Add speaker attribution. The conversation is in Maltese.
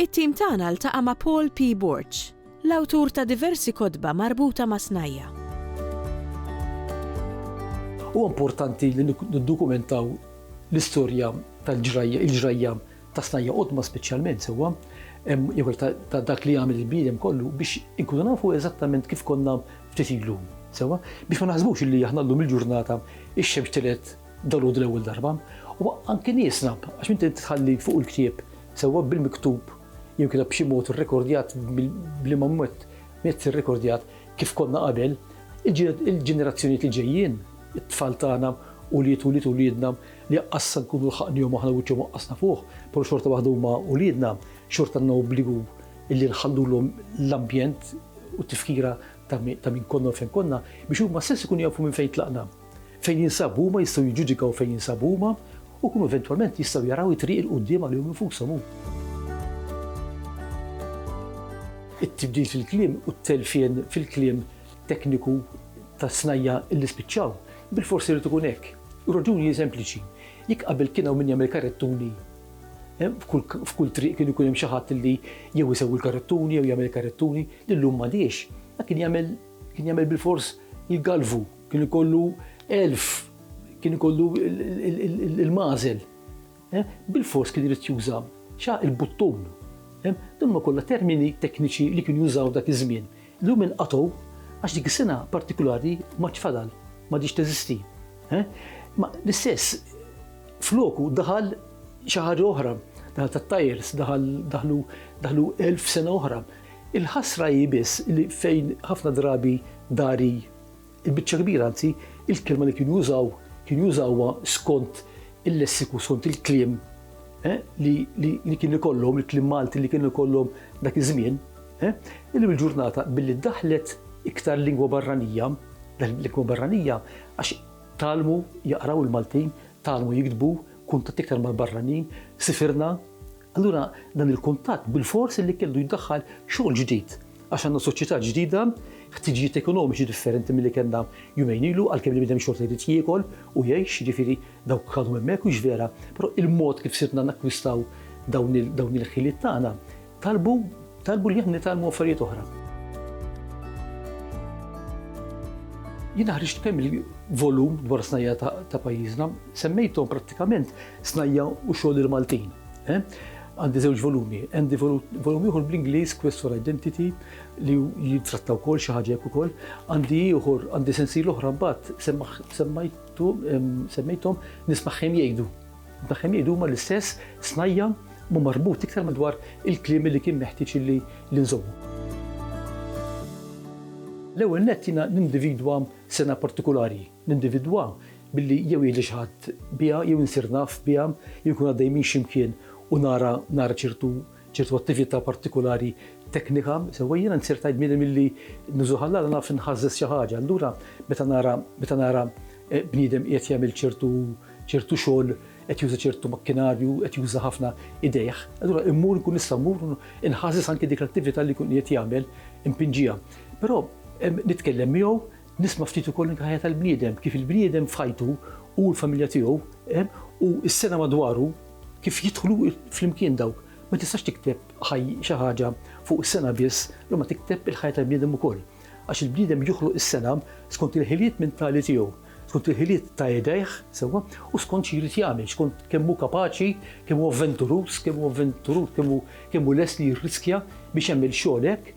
Speaker 1: It-tim tagħna ltaqa' ma' Paul P. Borg, l-awtur ta' diversi kotba marbuta ma' snajja'.
Speaker 2: Huwa importanti li niddokumentaw l-istorja tal-ġrajja, il-ġrajja ta' snajja' qodma speċjalment sewwa, jew hekk ta' dak li għamel il-bniedem kollu biex inkunu nafu eżattament kif konna ftit ilu, sewwa? Biex ma naħsbux li aħna llum il-ġurnata x-xemx tilgħet, Dalgħodu l-ewwel darba, u anki nieqsna, għax inti tħalli fuq il-ktieb, sewwa bil-miktub jew inkella b'xi mod irrekordjat b'liema mod mezz irrekordjat kif konna qabel, il-ġenerazzjonijiet li ġejjin, it-tfal tagħna, ulied ulied uliedna, li anqas sa nkunu lħaqnihom aħna wiċċhom waqqasna fuqh, però xorta waħda huma uliedna, xorta għandna obbligu li nħallulhom l-ambjent u t-tifkira ta' min konna u fejn konna, biex huma stess ikunu jafu minn fejn tlaqna. Fejn jinsabu huma jistgħu jiġġudikaw fejn jinsabu huma u jkunu eventwalment jistgħu jaraw it-triq 'il quddiem għalihom infushom u. It-tibdil fil-kliem u t-telfien fil-kliem tekniku tas-snajja' li spiċċaw, bilfors irid ikun hekk. Ir-raġuni hi sempliċi. Jekk qabel kien hawn min jagħmel karettuni, f'kull triq kien ikun hemm xi ħadd li jew isewwi l-karettuni jew jagħmel karettuni, illum m'għadhiex. Dak kien jagħmel kien jagħmel bilfors il-galvu. Kien ikollu elf, kien ikollu il-mażel. Eh? Bil-fors kien irid juża xa il-buttun. Eh? Dan ma kollha termini tekniċi li kien jużaw dak iż-żmien. L-lum inqatgħu għax dik is-sena partikolari ma tfadal, ma ġiex teżisti. Eh? Ma l-istess floku daħal xi ħaġa oħra, daħal tat-tajers, daħal daħlu daħlu elf sena oħra. Il-ħasra hi biss li fejn ħafna drabi dari Il-biċċa kbira, anzi, il-kelma li kienu jużaw, kienu jużawha skont il-lessiku, skont il-kliem eh, li kien ikollhom, il-kliem Malti li kienu ikollhom dak iż-żmien. Eh. Illum il-ġurnata billi daħlet iktar lingwa barranija, lingwa barranija għax talmu jaqraw il-Maltin, talmu jiktbu, kuntat iktar mal-barranin, sifirna, Allura dan il-kuntatt bilfors li kellu jdaħħal xogħol ġdid għax għandna soċjetà ġdida, ħtiġijiet ekonomiċi differenti milli kellna jumejn ilu għalkemm il-bniedem xorta jrid jiekol u jgħix, jiġifieri dawk għadhom hemmhekk mhux vera, però il-mod kif sirna nakkwistaw dawn il-ħiliet tagħna talbu talbu li aħna nitgħallmu affarijiet oħra. Jien ħriġt kemm il-volum dwar snajja ta' pajjiżna, semmejthom prattikament Snajja' u Xogħol il-Maltin. Għandi żewġ volumi. Għandi volum ieħor bl-Ingliż, Questor Identity, li jitratta wkoll xi ħaġa hekk ukoll. Għandi ieħor, għandi sensiel oħra mbagħad semmejthom nismagħhom jgħidu. Nismagħhom jgħidu huma l-istess snajja' ma marbut iktar madwar il-kliem li kien meħtieġ li nżommu. L-ewwel nett jiena nindividwa sena partikulari. Nindividwa billi jew jgħidli xi ħadd biha jew insir naf biha jew inkun għaddej minn xi mkien u nara nara ċertu ċertu attività partikulari teknika, sewwa jiena nsir tajt bniedem illi nużu ħallala naf inħażżeż xi ħaġa. Allura meta nara meta nara bniedem qiegħed jagħmel ċertu ċertu xogħol, qed juża ċertu makkinarju, qed juża ħafna idejh, allura immur inkun nista' mmur u nħażżeż anki dik l-attività li jkun qiegħed jagħmel, inpinġiha. Però nitkellem miegħu Nisma' ftit ukoll anke ħajja tal-bniedem, kif il-bniedem f'ħajtu, hu u l-familja tiegħu, u s-sengħa madwaru, kif jidħlu flimkien dawk. Ma tistax tikteb xi ħaġa fuq is-sengħa biss, imma tikteb il-ħajja tal-bniedem ukoll. Għax il-bniedem joħloq is-sengħa skont il-ħiliet mentali tiegħu, skont il-ħiliet ta' idejh, sewwa, u skont xi jrid jagħmel, skont kemm hu kapaċi, kemm hu avventuruż, kemm hu avventuruż, kemm hu lest li jirriskja biex jagħmel xogħol hekk